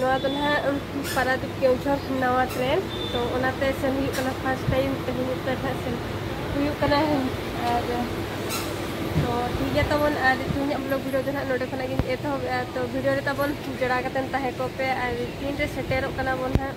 ᱱᱚᱣᱟ ᱫᱚ ᱱᱟᱦᱟᱜ ᱯᱟᱨᱟᱫᱤᱯ ᱠᱮᱣᱡᱷᱚᱨ ᱱᱟᱣᱟ ᱴᱨᱮᱱ ᱛᱚ ᱚᱱᱟᱛᱮ ᱥᱮᱱ ᱦᱩᱭᱩᱜ ᱠᱟᱱᱟ ᱯᱷᱟᱥᱴ ᱴᱟᱭᱤᱢ ᱛᱮᱦᱮᱧ ᱩᱛᱟᱹᱨ ᱱᱟᱦᱟᱜ ᱥᱮᱱ ᱦᱩᱭᱩᱜ ᱠᱟᱱᱟ ᱟᱨ ᱛᱚ ᱴᱷᱤᱠ ᱜᱮᱭᱟ ᱛᱟᱵᱚᱱ ᱟᱨ ᱛᱮᱦᱮᱧᱟᱜ ᱵᱞᱚᱜ ᱵᱷᱤᱰᱤᱭᱳ ᱫᱚ ᱱᱟᱦᱟᱜ ᱱᱚᱰᱮ ᱠᱷᱚᱱᱟᱜ ᱜᱤᱧ ᱮᱛᱚᱦᱚᱵᱮᱜᱼᱟ ᱛᱚ ᱵᱷᱤᱰᱤᱭᱳ ᱨᱮ ᱛᱟᱵᱚᱱ ᱡᱚᱲᱟᱣ ᱠᱟᱛᱮᱱ ᱛᱟᱦᱮᱸ ᱠᱚᱜ ᱯᱮ ᱟᱨ ᱛᱤᱱᱨᱮ ᱥᱮᱴᱮᱨᱚᱜ ᱠᱟᱱᱟ ᱵᱚᱱ ᱱᱟᱦᱟᱜ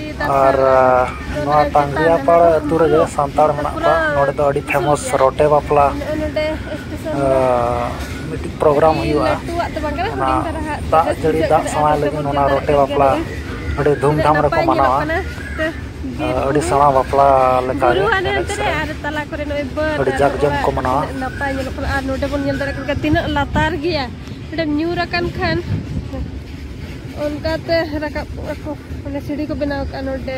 ᱟᱨ ᱱᱚᱣᱟ ᱛᱟᱝᱜᱽᱨᱤᱭᱟᱯᱟᱲ ᱟᱹᱛᱩ ᱨᱮᱜᱮ ᱥᱟᱱᱛᱟᱲ ᱢᱮᱱᱟᱜ ᱠᱚᱣᱟ ᱱᱚᱰᱮ ᱫᱚ ᱟᱹᱰᱤ ᱯᱷᱮᱢᱚᱥ ᱨᱚᱴᱮ ᱵᱟᱯᱞᱟ ᱢᱤᱫᱴᱤᱡ ᱯᱨᱳᱜᱨᱟᱢ ᱦᱩᱭᱩᱜᱼᱟ ᱚᱱᱟ ᱫᱟᱜ ᱡᱟᱹᱲᱤ ᱫᱟᱜ ᱥᱟᱶᱟᱭ ᱞᱟᱹᱜᱤᱫ ᱚᱱᱟ ᱨᱚᱴᱮ ᱵᱟᱯᱞᱟ ᱟᱹᱰᱤ ᱫᱷᱩᱢᱫᱷᱟᱢ ᱨᱮᱠᱚ ᱢᱟᱱᱟᱣᱟ ᱟᱹᱰᱤ ᱥᱮᱬᱟ ᱵᱟᱯᱞᱟ ᱞᱮᱠᱟᱜᱮ ᱮᱱᱮᱡ ᱥᱮᱨᱮᱧ ᱟᱹᱰᱤ ᱡᱟᱠ ᱡᱚᱢᱚᱠ ᱠᱚ ᱢᱟᱱᱟᱣᱟ ᱚᱸᱰᱮ ᱧᱩᱨ ᱟᱠᱟᱱ ᱠᱷᱟᱱ ᱚᱱᱠᱟᱛᱮ ᱨᱟᱠᱟᱵ ᱟᱠᱚ ᱚᱱᱮ ᱥᱤᱲᱤ ᱠᱚ ᱵᱮᱱᱟᱣ ᱠᱟᱜᱼᱟ ᱱᱚᱰᱮ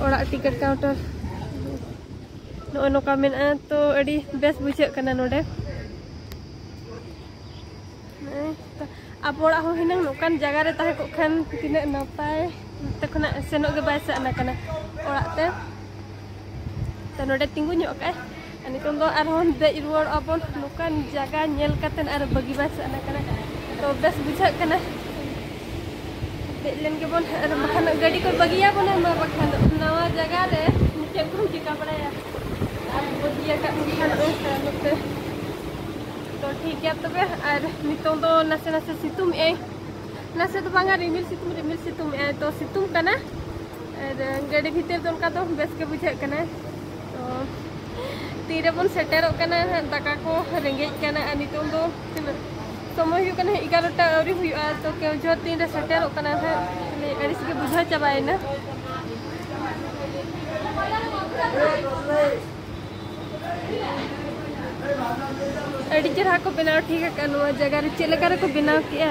ᱚᱲᱟᱜ ᱴᱤᱠᱤᱴ ᱠᱟᱣᱩᱱᱴᱟᱨ ᱱᱚᱜᱼᱚᱭ ᱱᱚᱝᱠᱟ ᱢᱮᱱᱟᱜᱼᱟ ᱛᱚ ᱟᱹᱰᱤ ᱵᱮᱥ ᱵᱩᱡᱷᱟᱹᱜ ᱠᱟᱱᱟ ᱱᱚᱰᱮ ᱟᱵᱚ ᱚᱲᱟᱜ ᱦᱚᱸ ᱦᱤᱱᱟᱹᱝ ᱱᱚᱝᱠᱟᱱ ᱡᱟᱭᱜᱟ ᱨᱮ ᱛᱟᱦᱮᱸ ᱠᱚᱜ ᱠᱷᱟᱱ ᱛᱤᱱᱟᱹᱜ ᱱᱟᱯᱟᱭ ᱱᱚᱛᱮ ᱠᱷᱚᱱᱟᱜ ᱥᱮᱱᱚᱜ ᱜᱮ ᱵᱟᱭ ᱥᱟᱱᱟ ᱠᱟᱱᱟ ᱚᱲᱟᱜ ᱛᱮ ᱛᱚ ᱱᱚᱰᱮ ᱛᱤᱸᱜᱩ ᱧᱚᱜ ᱠᱟᱜᱼᱟᱭ ᱱᱤᱛᱚᱝ ᱫᱚ ᱟᱨᱦᱚᱸ ᱫᱮᱡ ᱨᱩᱣᱟᱹᱲᱚᱜ ᱟᱵᱚᱱ ᱱᱚᱝᱠᱟᱱ ᱡᱟᱭᱜᱟ ᱧᱮᱞ ᱠᱟᱛᱮ ᱟᱨ ᱵᱟᱹᱜᱤ ᱵᱟᱭ ᱥᱟᱱᱟ ᱠᱟᱱᱟ ᱛᱚ ᱵᱮᱥ ᱵᱩᱡᱷᱟᱹᱜ ᱠᱟᱱᱟ ᱫᱮᱡ ᱞᱮᱱ ᱜᱮᱵᱚᱱ ᱟᱨ ᱵᱟᱠᱷᱟᱱ ᱜᱟᱹᱰᱤ ᱠᱚ ᱵᱟᱹᱜᱤᱭᱟᱵᱚᱱᱟ ᱢᱟ ᱵᱟᱠᱷᱟᱱ ᱱᱟᱣᱟ ᱡᱟᱭᱜᱟ ᱨᱮ ᱪᱮᱫ ᱵᱚᱱ ᱪᱤᱠᱟ ᱵᱟᱲᱟᱭᱟ ᱟᱨ ᱵᱟᱹᱜᱤᱭᱟᱠᱟᱫ ᱠᱷᱟᱱ ᱚᱱᱠᱟ ᱱᱚᱛᱮ ᱛᱚ ᱴᱷᱤᱠ ᱜᱮᱭᱟ ᱛᱚᱵᱮ ᱟᱨ ᱱᱤᱛᱚᱝ ᱫᱚ ᱱᱟᱥᱮ ᱱᱟᱥᱮ ᱥᱤᱛᱩᱝ ᱮᱜ ᱟᱭ ᱱᱟᱥᱮ ᱫᱚ ᱵᱟᱝᱟ ᱨᱤᱢᱤᱞ ᱥᱤᱛᱩᱝ ᱨᱤᱢᱤᱞ ᱥᱤᱛᱩᱝ ᱮᱜ ᱟᱭ ᱛᱚ ᱥᱤᱛᱩᱝ ᱠᱟᱱᱟ ᱟᱨ ᱜᱟᱹᱰᱤ ᱵᱷᱤᱛᱤᱨ ᱫᱚ ᱚᱱᱠᱟ ᱫᱚ ᱵᱮᱥ ᱜᱮ ᱵᱩᱡᱷᱟᱹᱜ ᱠᱟᱱᱟ ᱛᱤᱨᱮᱵᱚᱱ ᱥᱮᱴᱮᱨᱚᱜ ᱠᱟᱱᱟ ᱦᱟᱸᱜ ᱫᱟᱠᱟ ᱠᱚ ᱨᱮᱸᱜᱮᱡ ᱠᱟᱱᱟ ᱟᱨ ᱱᱤᱛᱚᱝ ᱫᱚ ᱛᱤᱱᱟᱹᱜ ᱥᱚᱢᱚᱭ ᱦᱩᱭᱩᱜ ᱠᱟᱱᱟ ᱮᱜᱟᱨᱚᱴᱟ ᱟᱹᱣᱨᱤ ᱦᱩᱭᱩᱜᱼᱟ ᱛᱚ ᱠᱮᱣᱡᱷᱚ ᱛᱤᱱᱨᱮ ᱥᱮᱴᱮᱨᱚᱜ ᱠᱟᱱᱟ ᱦᱟᱸᱜ ᱢᱟᱱᱮ ᱟᱹᱲᱤᱥ ᱜᱮ ᱵᱩᱡᱷᱟᱹᱣ ᱪᱟᱵᱟᱭᱮᱱᱟ ᱟᱹᱰᱤ ᱪᱮᱨᱦᱟ ᱠᱚ ᱵᱮᱱᱟᱣ ᱴᱷᱤᱠ ᱟᱠᱟᱫᱼᱟ ᱱᱚᱣᱟ ᱡᱟᱭᱜᱟ ᱨᱮ ᱪᱮᱫ ᱞᱮᱠᱟ ᱨᱮᱠᱚ ᱵᱮᱱᱟᱣ ᱠᱮᱫᱼᱟ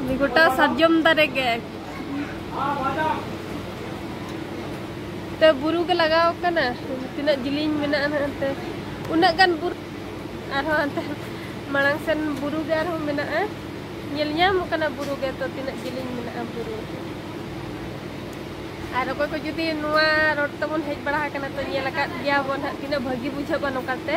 ᱩᱱᱤ ᱜᱚᱴᱟ ᱥᱟᱨᱡᱚᱢ ᱫᱟᱨᱮ ᱜᱮ ᱛᱮ ᱵᱩᱨᱩ ᱜᱮ ᱞᱟᱜᱟᱣ ᱠᱟᱱᱟ ᱛᱤᱱᱟᱹᱜ ᱡᱤᱞᱤᱧ ᱢᱮᱱᱟᱜᱼᱟ ᱱᱟᱦᱟᱜ ᱩᱱᱟᱹᱜ ᱜᱟᱱ ᱵᱩᱨᱩ ᱟᱨᱦᱚᱸ ᱦᱟᱱᱛᱮ ᱢᱟᱲᱟᱝ ᱥᱮᱱ ᱵᱩᱨᱩ ᱜᱮ ᱟᱨᱦᱚᱸ ᱢᱮᱱᱟᱜᱼᱟ ᱧᱮᱞ ᱧᱟᱢᱚᱜ ᱠᱟᱱᱟ ᱵᱩᱨᱩ ᱜᱮ ᱛᱚ ᱛᱤᱱᱟᱹᱜ ᱡᱤᱞᱤᱧ ᱢᱮᱱᱟᱜᱼᱟ ᱵᱩᱨᱩ ᱟᱨ ᱚᱠᱚᱭ ᱠᱚ ᱡᱩᱫᱤ ᱱᱚᱣᱟ ᱨᱳᱰ ᱛᱮᱵᱚᱱ ᱦᱮᱡ ᱵᱟᱲᱟ ᱟᱠᱟᱱᱟ ᱛᱚ ᱧᱮᱞ ᱟᱠᱟᱫ ᱜᱮᱭᱟ ᱵᱚᱱ ᱦᱟᱸᱜ ᱛᱤᱱᱟᱹᱜ ᱵᱷᱟᱹᱜᱤ ᱵᱩᱡᱷᱟᱹᱜᱼᱟ ᱱᱚᱝᱠᱟᱛᱮ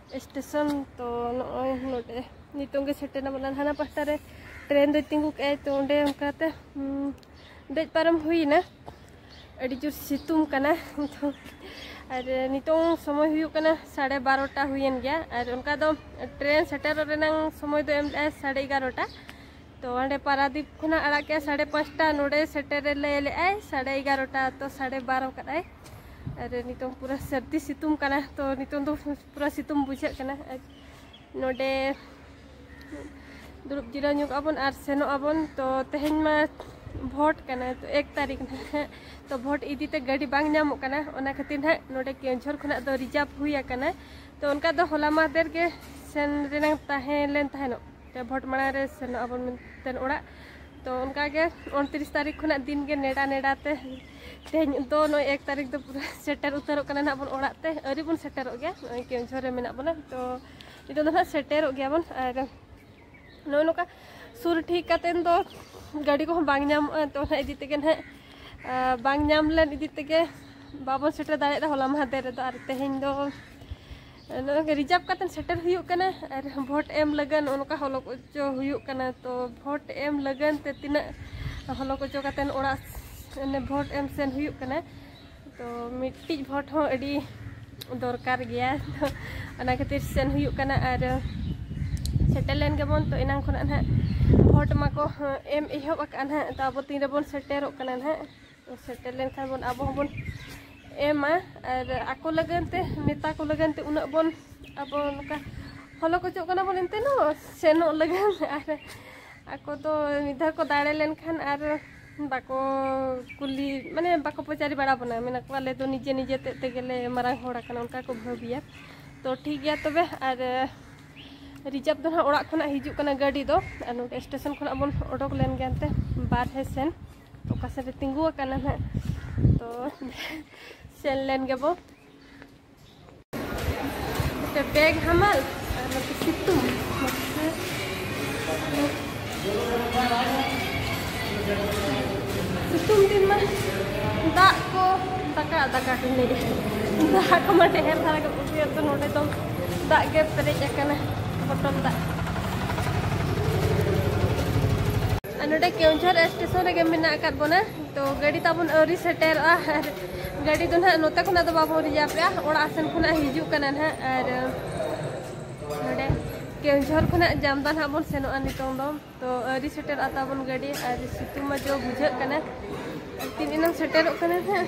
ᱥᱴᱮᱥᱚᱱ ᱛᱚ ᱱᱚᱜᱼᱚᱭ ᱱᱚᱰᱮ ᱱᱤᱛᱚᱝ ᱜᱮ ᱥᱮᱴᱮᱨ ᱮᱱᱟ ᱵᱚᱞᱮ ᱦᱟᱱᱟ ᱯᱟᱦᱴᱟ ᱨᱮ ᱴᱨᱮᱱ ᱫᱚᱭ ᱛᱤᱸᱜᱩ ᱠᱮᱜᱼᱟᱭ ᱛᱚ ᱚᱸᱰᱮ ᱚᱱᱠᱟᱛᱮ ᱫᱮᱡ ᱯᱟᱨᱚᱢ ᱦᱩᱭᱱᱟ ᱟᱹᱰᱤ ᱡᱳᱨ ᱥᱤᱛᱩᱝ ᱠᱟᱱᱟ ᱱᱤᱛᱚᱝ ᱟᱨ ᱱᱤᱛᱚᱝ ᱥᱚᱢᱚᱭ ᱦᱩᱭᱩᱜ ᱠᱟᱱᱟ ᱥᱟᱲᱮ ᱵᱟᱨᱚᱴᱟ ᱦᱩᱭᱮᱱ ᱜᱮᱭᱟ ᱟᱨ ᱚᱱᱠᱟ ᱫᱚ ᱴᱨᱮᱱ ᱥᱮᱴᱮᱨᱚᱜ ᱨᱮᱱᱟᱝ ᱥᱚᱢᱚᱭ ᱫᱚ ᱮᱢ ᱞᱮᱜᱼᱟᱭ ᱥᱟᱲᱮ ᱮᱜᱟᱨᱚᱴᱟ ᱛᱚ ᱚᱸᱰᱮ ᱯᱟᱨᱟᱫᱤᱯ ᱠᱷᱚᱱᱟᱜ ᱟᱲᱟᱜ ᱠᱮᱜᱼᱟ ᱥᱟᱲᱮ ᱯᱟᱸᱪᱴᱟ ᱱᱚᱰᱮ ᱥᱮᱴᱮᱨ ᱞᱟᱹᱭ ᱞᱮᱜᱼᱟᱭ ᱥᱟᱲᱮ ᱮᱜᱟᱨᱚᱴᱟ ᱛᱚ ᱥᱟᱲᱮ ᱵᱟᱨᱚ ᱠᱟᱫᱟᱭ ᱟᱨ ᱱᱤᱛᱚᱝ ᱯᱩᱨᱟᱹ ᱥᱟᱹᱨᱫᱤ ᱥᱤᱛᱩᱝ ᱠᱟᱱᱟ ᱛᱚ ᱱᱤᱛᱚᱝ ᱫᱚ ᱯᱩᱨᱟᱹ ᱥᱤᱛᱩᱝ ᱵᱩᱡᱷᱟᱹᱜ ᱠᱟᱱᱟ ᱟᱨ ᱱᱚᱰᱮ ᱫᱩᱲᱩᱵ ᱡᱤᱨᱟᱹᱣ ᱧᱚᱜ ᱟᱵᱚᱱ ᱟᱨ ᱥᱮᱱᱚᱜ ᱟᱵᱚᱱ ᱛᱚ ᱛᱮᱦᱮᱧ ᱢᱟ ᱵᱷᱳᱴ ᱠᱟᱱᱟ ᱛᱚ ᱮᱠ ᱛᱟᱹᱨᱤᱠᱷ ᱱᱟᱦᱟᱜ ᱛᱚ ᱵᱷᱳᱴ ᱤᱫᱤ ᱛᱮ ᱜᱟᱹᱰᱤ ᱵᱟᱝ ᱧᱟᱢᱚᱜ ᱠᱟᱱᱟ ᱚᱱᱟ ᱠᱷᱟᱹᱛᱤᱨ ᱱᱟᱦᱟᱜ ᱱᱚᱰᱮ ᱠᱮᱣᱡᱷᱚᱨ ᱠᱷᱚᱱᱟᱜ ᱫᱚ ᱨᱤᱡᱟᱨᱵᱷ ᱦᱩᱭ ᱟᱠᱟᱱᱟ ᱛᱚ ᱚᱱᱠᱟ ᱫᱚ ᱦᱚᱞᱟ ᱢᱟᱦᱫᱮᱨ ᱜᱮ ᱥᱮᱱ ᱨᱮᱱᱟᱝ ᱛᱟᱦᱮᱸ ᱞᱮᱱ ᱛᱟᱦᱮᱱᱚᱜ ᱛᱚ ᱵᱷᱳᱴ ᱢᱟᱲᱟᱝ ᱨᱮ ᱥᱮᱱᱚᱜ ᱟᱵᱚᱱ ᱢᱮᱱᱛᱮ ᱚᱲᱟᱜ ᱛᱚ ᱚᱱᱠᱟ ᱜᱮ ᱩᱱᱛᱨᱤᱥ ᱛᱟᱹᱨᱤᱠᱷ ᱠᱷᱚᱱᱟᱜ ᱫᱤᱱ ᱜᱮ ᱱᱮᱰᱟ ᱱᱮᱰᱟ ᱛᱮ ᱛᱮᱦᱮᱧ ᱫᱚ ᱱᱚᱜᱼᱚᱭ ᱮᱠ ᱛᱟᱹᱨᱤᱠᱷ ᱫᱚ ᱯᱩᱨᱟᱹ ᱥᱮᱴᱮᱨ ᱩᱛᱟᱹᱨᱚᱜ ᱠᱟᱱᱟ ᱱᱟᱜ ᱵᱚᱱ ᱚᱲᱟᱜ ᱛᱮ ᱟᱹᱣᱨᱤ ᱵᱚᱱ ᱥᱮᱴᱮᱨᱚᱜ ᱜᱮᱭᱟ ᱱᱚᱜᱼᱚᱭ ᱠᱮᱣᱡᱷᱚᱨ ᱨᱮ ᱢᱮᱱᱟᱜ ᱵᱚᱱᱟ ᱛᱚ ᱱᱤᱛᱚᱜ ᱫᱚ ᱱᱟᱜ ᱥᱮᱴᱮᱨᱚᱜ ᱜᱮᱭᱟ ᱵᱚᱱ ᱟᱨ ᱱᱚᱜᱼᱚᱭ ᱱᱚᱝᱠᱟ ᱥᱩᱨ ᱴᱷᱤᱠ ᱠᱟᱛᱮᱱ ᱫᱚ ᱜᱟᱹᱰᱤ ᱠᱚᱦᱚᱸ ᱵᱟᱝ ᱧᱟᱢᱚᱜᱼᱟ ᱛᱚ ᱱᱟᱜ ᱤᱫᱤ ᱛᱮᱜᱮ ᱱᱟᱜ ᱵᱟᱝ ᱧᱟᱢ ᱞᱮᱱ ᱤᱫᱤ ᱛᱮᱜᱮ ᱵᱟᱵᱚᱱ ᱥᱮᱴᱮᱨ ᱫᱟᱲᱮᱭᱟᱫᱟ ᱦᱚᱞᱟ ᱢᱟᱦᱫᱮᱨ ᱨᱮᱫᱚ ᱟᱨ ᱛᱮᱦᱮᱧ ᱫᱚ ᱱᱚᱜᱼᱚᱭ ᱨᱤᱡᱟᱨᱵᱷ ᱠᱟᱛᱮ ᱥᱮᱴᱮᱨ ᱦᱩᱭᱩᱜ ᱠᱟᱱᱟ ᱟᱨ ᱵᱷᱳᱴ ᱮᱢ ᱞᱟᱹᱜᱤᱫ ᱚᱱᱠᱟ ᱦᱚᱞᱚᱠ ᱚᱪᱚ ᱦᱩᱭᱩᱜ ᱠᱟᱱᱟ ᱛᱚ ᱵᱷᱳᱴ ᱮᱢ ᱞᱟᱹᱜᱤᱫ ᱛᱮ ᱛᱤᱱᱟᱹᱜ ᱦᱚᱞᱚᱠ ᱚᱪᱚ ᱠᱟᱛᱮ ᱚᱲᱟᱜ ᱚᱱᱮ ᱵᱷᱳᱴ ᱮᱢ ᱥᱮᱱ ᱦᱩᱭᱩᱜ ᱠᱟᱱᱟ ᱛᱚ ᱢᱤᱫᱴᱤᱡ ᱵᱷᱳᱴ ᱦᱚᱸ ᱟᱹᱰᱤ ᱫᱚᱨᱠᱟᱨ ᱜᱮᱭᱟ ᱛᱚ ᱚᱱᱟ ᱠᱷᱟᱹᱛᱤᱨ ᱥᱮᱱ ᱦᱩᱭᱩᱜ ᱠᱟᱱᱟ ᱟᱨ ᱥᱮᱴᱮᱨ ᱞᱮᱱ ᱜᱮᱵᱚᱱ ᱛᱚ ᱮᱱᱟᱝ ᱠᱷᱚᱱᱟᱜ ᱱᱟᱦᱟᱜ ᱵᱷᱳᱴ ᱢᱟᱠᱚ ᱮᱢ ᱮᱦᱚᱵ ᱟᱠᱟᱫᱼᱟ ᱱᱟᱦᱟᱜ ᱛᱚ ᱟᱵᱚ ᱛᱤᱱ ᱨᱮᱵᱚᱱ ᱥᱮᱴᱮᱨᱚᱜ ᱠᱟᱱᱟ ᱱᱟᱦᱟᱜ ᱥᱮᱴᱮᱨ ᱞᱮᱱᱠᱷᱟᱱ ᱵᱚᱱ ᱟᱵᱚ ᱦᱚᱸᱵᱚᱱ ᱮᱢᱟ ᱟᱨ ᱟᱠᱚ ᱞᱟᱹᱜᱤᱫ ᱛᱮ ᱱᱮᱛᱟ ᱠᱚ ᱞᱟᱹᱜᱤᱫ ᱛᱮ ᱩᱱᱟᱹᱜ ᱵᱚᱱ ᱟᱵᱚ ᱱᱚᱝᱠᱟ ᱦᱚᱞᱚ ᱠᱚᱪᱚᱜ ᱠᱟᱱᱟ ᱵᱚᱱ ᱮᱱᱛᱮ ᱦᱚᱸ ᱥᱮᱱᱚᱜ ᱞᱟᱹᱜᱤᱫ ᱟᱨ ᱟᱠᱚ ᱫᱚ ᱢᱤᱫ ᱫᱷᱟᱣ ᱠᱚ ᱫᱟᱲᱮ ᱞᱮᱱᱠᱷᱟᱱ ᱟᱨ ᱵᱟᱠᱚ ᱠᱩᱞᱤ ᱢᱟᱱᱮ ᱵᱟᱠᱚ ᱯᱟᱪᱟᱨᱤ ᱵᱟᱲᱟ ᱵᱚᱱᱟ ᱢᱮᱱᱟ ᱠᱚ ᱟᱞᱮ ᱫᱚ ᱱᱤᱡᱮ ᱱᱤᱡᱮ ᱛᱮ ᱛᱮᱜᱮᱞᱮ ᱢᱟᱨᱟᱝ ᱦᱚᱲ ᱟᱠᱟᱱᱟ ᱚᱱᱠᱟ ᱠᱚ ᱵᱷᱟᱹᱵᱤᱭᱟ ᱛᱚ ᱴᱷᱤᱠ ᱜᱮᱭᱟ ᱛᱚᱵᱮ ᱟᱨ ᱨᱤᱡᱟᱨᱵᱷ ᱫᱚ ᱦᱟᱸᱜ ᱚᱲᱟᱜ ᱠᱷᱚᱱᱟᱜ ᱦᱤᱡᱩᱜ ᱠᱟᱱᱟ ᱜᱟᱹᱰᱤ ᱫᱚ ᱟᱨ ᱱᱚᱰᱮ ᱥᱴᱮᱥᱚᱱ ᱠᱷᱚᱱᱟᱜ ᱵᱚᱱ ᱚᱰᱚᱠ ᱞᱮᱱ ᱜᱮ ᱮᱱᱛᱮ ᱵᱟᱨᱦᱮ ᱥᱮᱱ ᱚᱠᱟ ᱥᱮᱫ ᱨᱮ ᱛᱤᱸᱜᱩ ᱟᱠᱟᱱᱟ ᱱᱟᱜ ᱛᱚ ᱥᱮᱱ ᱞᱮᱱ ᱜᱮᱵᱚ ᱵᱮᱜᱽ ᱦᱟᱢᱟᱞ ᱟᱨ ᱱᱚᱛᱮ ᱥᱤᱛᱩᱝ ᱥᱤᱛᱩᱝ ᱫᱤᱱ ᱢᱟ ᱫᱟᱜ ᱠᱚ ᱫᱟᱠᱟ ᱫᱟᱠᱟ ᱠᱚ ᱞᱟᱹᱭᱮᱫ ᱫᱟᱜ ᱠᱚ ᱢᱟ ᱰᱷᱮᱨ ᱫᱷᱟᱨᱟ ᱜᱮ ᱵᱩᱡᱷᱟᱹᱣ ᱛᱚ ᱱᱚᱰᱮ ᱫᱚ ᱫᱟᱜ ᱜᱮ ᱯᱮᱨᱮᱡ ᱟᱠᱟᱱᱟ ᱵᱚᱴᱚᱞ ᱫᱟᱜ ᱱᱚᱰᱮ ᱠᱮᱣᱡᱷᱚᱨ ᱥᱴᱮᱥᱚᱱ ᱨᱮᱜᱮ ᱢᱮᱱᱟᱜ ᱟᱠᱟᱫ ᱵᱚᱱᱟ ᱛᱚ ᱜᱟᱹᱰᱤ ᱛᱟᱵᱚᱱ ᱟᱹᱣᱨᱤ ᱥᱮᱴᱮᱨᱚᱜᱼᱟ ᱟᱨ ᱜᱟᱹᱰᱤ ᱫᱚ ᱱᱟᱦᱟᱜ ᱱᱚᱛᱮ ᱠᱷᱚᱱᱟᱜ ᱫᱚ ᱵᱟᱵᱚᱱ ᱨᱤᱡᱟᱵᱮᱜᱼᱟ ᱚᱲᱟᱜ ᱥᱮᱱ ᱠᱷᱚᱱᱟᱜ ᱦᱤᱡᱩᱜ ᱠᱟᱱᱟ ᱱᱟᱦᱟᱜ ᱟᱨ ᱱᱚᱰᱮ ᱠᱮᱣᱡᱷᱚᱨ ᱠᱷᱚᱱᱟᱜ ᱡᱟᱢᱫᱟ ᱱᱟᱦᱟᱜ ᱵᱚᱱ ᱥᱮᱱᱚᱜᱼᱟ ᱱᱤᱛᱚᱝ ᱫᱚ ᱛᱚ ᱟᱹᱣᱨᱤ ᱥᱮᱴᱮᱨᱚᱜᱼᱟ ᱛᱟᱵᱚᱱ ᱜᱟᱹᱰᱤ ᱟᱨ ᱥᱤᱛᱩᱝ ᱢᱟ ᱡᱚ ᱵᱩᱡᱷᱟᱹᱜ ᱠᱟᱱᱟ ᱛᱤᱱ ᱮᱱᱟᱝ ᱥᱮᱴᱮᱨᱚᱜ ᱠᱟᱱᱟ ᱱᱟᱦᱟᱜ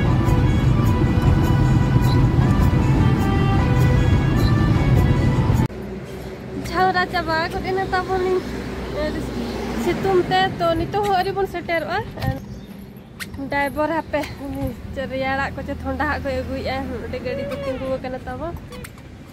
ᱡᱷᱟᱣᱨᱟ ᱪᱟᱵᱟ ᱠᱚᱫ ᱮᱱᱟ ᱛᱟᱵᱚᱱ ᱥᱤᱛᱩᱝ ᱛᱮ ᱛᱚ ᱱᱤᱛᱚᱜ ᱦᱚᱸ ᱟᱹᱣᱨᱤ ᱵᱚᱱ ᱥᱮᱴᱮᱨᱚᱜᱼᱟ ᱰᱟᱭᱵᱚᱨ ᱦᱟᱯᱮ ᱨᱮᱭᱟᱲᱟᱜ ᱠᱚ ᱪᱮ ᱛᱷᱚᱱᱰᱟᱦᱟᱜ ᱠᱚᱭ ᱟᱹᱜᱩᱭᱮᱫᱼᱟ ᱚᱸᱰᱮ ᱜᱟᱹᱰᱤ ᱫᱚ ᱛᱤᱸᱜᱩ ᱟᱠᱟᱱᱟ ᱛᱟᱵᱚᱱ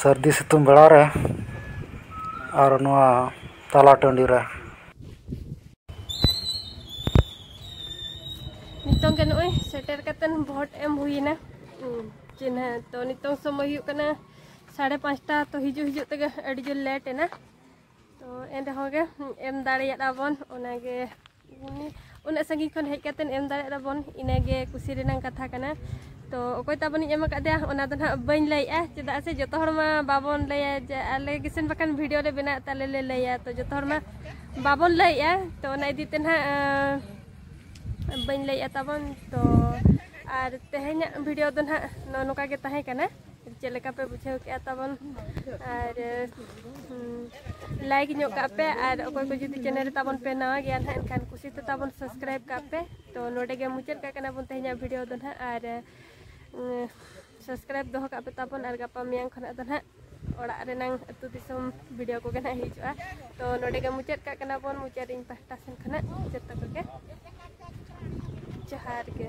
ᱥᱟᱹᱨᱫᱤ ᱥᱤᱛᱩᱝ ᱵᱮᱲᱟ ᱨᱮ ᱟᱨ ᱱᱚᱣᱟ ᱛᱟᱞᱟ ᱴᱟᱺᱰᱤ ᱨᱮ ᱱᱤᱛᱚᱝ ᱜᱮ ᱱᱚᱜᱼᱚᱭ ᱥᱮᱴᱮᱨ ᱠᱟᱛᱮᱱ ᱵᱷᱳᱴ ᱮᱢ ᱦᱩᱭᱮᱱᱟ ᱪᱤᱱᱦᱟᱹ ᱛᱚ ᱱᱤᱛᱚᱝ ᱥᱚᱢᱚᱭ ᱦᱩᱭᱩᱜ ᱠᱟᱱᱟ ᱥᱟᱲᱮ ᱯᱟᱸᱪᱴᱟ ᱛᱚ ᱦᱤᱡᱩᱜ ᱦᱤᱡᱩᱜ ᱛᱮᱜᱮ ᱟᱹᱰᱤ ᱡᱳᱨ ᱞᱮᱴ ᱮᱱᱟ ᱛᱚ ᱮᱱ ᱨᱮᱦᱚᱸ ᱜᱮ ᱮᱢ ᱫᱟᱲᱮᱭᱟᱫᱼᱟ ᱵᱚᱱ ᱚᱱᱟᱜᱮ ᱩᱱᱟᱹᱜ ᱥᱟᱺᱜᱤᱧ ᱠᱷᱚᱱ ᱦᱮᱡ ᱠᱟᱛᱮ ᱮᱢ ᱫᱟᱲᱮᱭᱟᱜ ᱛᱟᱵᱚᱱ ᱤᱱᱟᱹᱜᱮ ᱠᱩᱥᱤ ᱨᱮᱱᱟᱜ ᱠᱟᱛᱷᱟ ᱠᱟᱱᱟ ᱛᱚ ᱚᱠᱚᱭ ᱛᱟᱵᱚᱱᱤᱧ ᱮᱢ ᱟᱠᱟᱫᱮᱭᱟ ᱚᱱᱟ ᱫᱚ ᱱᱟᱦᱟᱜ ᱵᱟᱹᱧ ᱞᱟᱹᱭᱮᱜᱼᱟ ᱪᱮᱫᱟᱜ ᱥᱮ ᱡᱚᱛᱚ ᱦᱚᱲ ᱢᱟ ᱵᱟᱵᱚᱱ ᱞᱟᱹᱭᱟ ᱡᱮ ᱟᱞᱮ ᱜᱮᱥᱮᱱ ᱵᱟᱠᱷᱟᱱ ᱵᱷᱤᱰᱤᱭᱳ ᱞᱮ ᱵᱮᱱᱟᱣ ᱛᱟᱞᱮ ᱞᱮ ᱞᱟᱹᱭᱟ ᱛᱚ ᱡᱚᱛᱚ ᱦᱚᱲ ᱢᱟ ᱵᱟᱵᱚᱱ ᱞᱟᱹᱭᱮᱜᱼᱟ ᱛᱚ ᱚᱱᱟ ᱤᱫᱤ ᱛᱮ ᱱᱟᱦᱟᱜ ᱵᱟᱹᱧ ᱞᱟᱹᱭᱮᱜᱼᱟ ᱛᱟᱵᱚᱱ ᱛᱚ ᱟᱨ ᱛᱮᱦᱮᱧᱟᱜ ᱵᱷᱤᱰᱤᱭᱳ ᱫᱚ ᱱᱟᱦᱟᱜ ᱱᱚᱜᱼᱚ ᱱᱚᱝᱠᱟ ᱜᱮ ᱛᱟᱦᱮᱸ ᱠᱟᱱᱟ ᱪᱮᱫ ᱞᱮᱠᱟ ᱯᱮ ᱵᱩᱡᱷᱟᱹᱣ ᱠᱮᱜᱼᱟ ᱛᱟᱵᱚᱱ ᱟᱨ ᱞᱟᱭᱤᱠ ᱧᱚᱜ ᱠᱟᱜ ᱯᱮ ᱟᱨ ᱚᱠᱚᱭ ᱠᱚ ᱡᱩᱫᱤ ᱪᱮᱱᱮᱞ ᱨᱮ ᱛᱟᱵᱚᱱ ᱯᱮ ᱱᱟᱣᱟ ᱜᱮᱭᱟ ᱱᱟᱦᱟᱜ ᱮᱱᱠᱷᱟᱱ ᱠᱩᱥᱤ ᱛᱮ ᱛᱟᱵᱚᱱ ᱥᱟᱵᱥᱠᱨᱟᱭᱤᱵ ᱠᱟᱜ ᱯᱮ ᱛᱚ ᱱᱚᱰᱮ ᱜᱮ ᱢᱩᱪᱟᱹᱫ ᱠᱟᱜ ᱠᱟᱱᱟ ᱵᱚᱱ ᱛᱮᱦᱮᱧᱟᱜ ᱵᱷᱤᱰᱤᱭᱳ ᱫᱚ ᱱᱟᱦᱟᱜ ᱟᱨ ᱥᱟᱵᱥᱠᱨᱟᱭᱤᱵ ᱫᱚᱦᱚ ᱠᱟᱜ ᱯᱮ ᱛᱟᱵᱚᱱ ᱟᱨ ᱜᱟᱯᱟ ᱢᱮᱭᱟᱝ ᱠᱷᱚᱱᱟᱜ ᱫᱚ ᱱᱟᱦᱟᱜ ᱚᱲᱟᱜ ᱨᱮᱱᱟᱝ ᱟᱹᱛᱩ ᱫᱤᱥᱚᱢ ᱵᱷᱤᱰᱤᱭᱳ ᱠᱚᱜᱮ ᱱᱟᱦᱟᱜ ᱦᱤᱡᱩᱜᱼᱟ ᱛᱚ ᱱᱚᱰᱮ ᱜᱮ ᱢᱩᱪᱟᱹᱫ ᱠᱟᱜ ᱠᱟᱱᱟ ᱵᱚᱱ ᱢᱩᱪᱟᱹᱫ ᱤᱧ ᱯᱟᱦᱴᱟ ᱥᱮᱱ ᱠᱷᱚᱱᱟᱜ ᱡᱚᱛᱚ ᱠᱚᱜᱮ ᱡᱚᱦᱟᱨ ᱜᱮ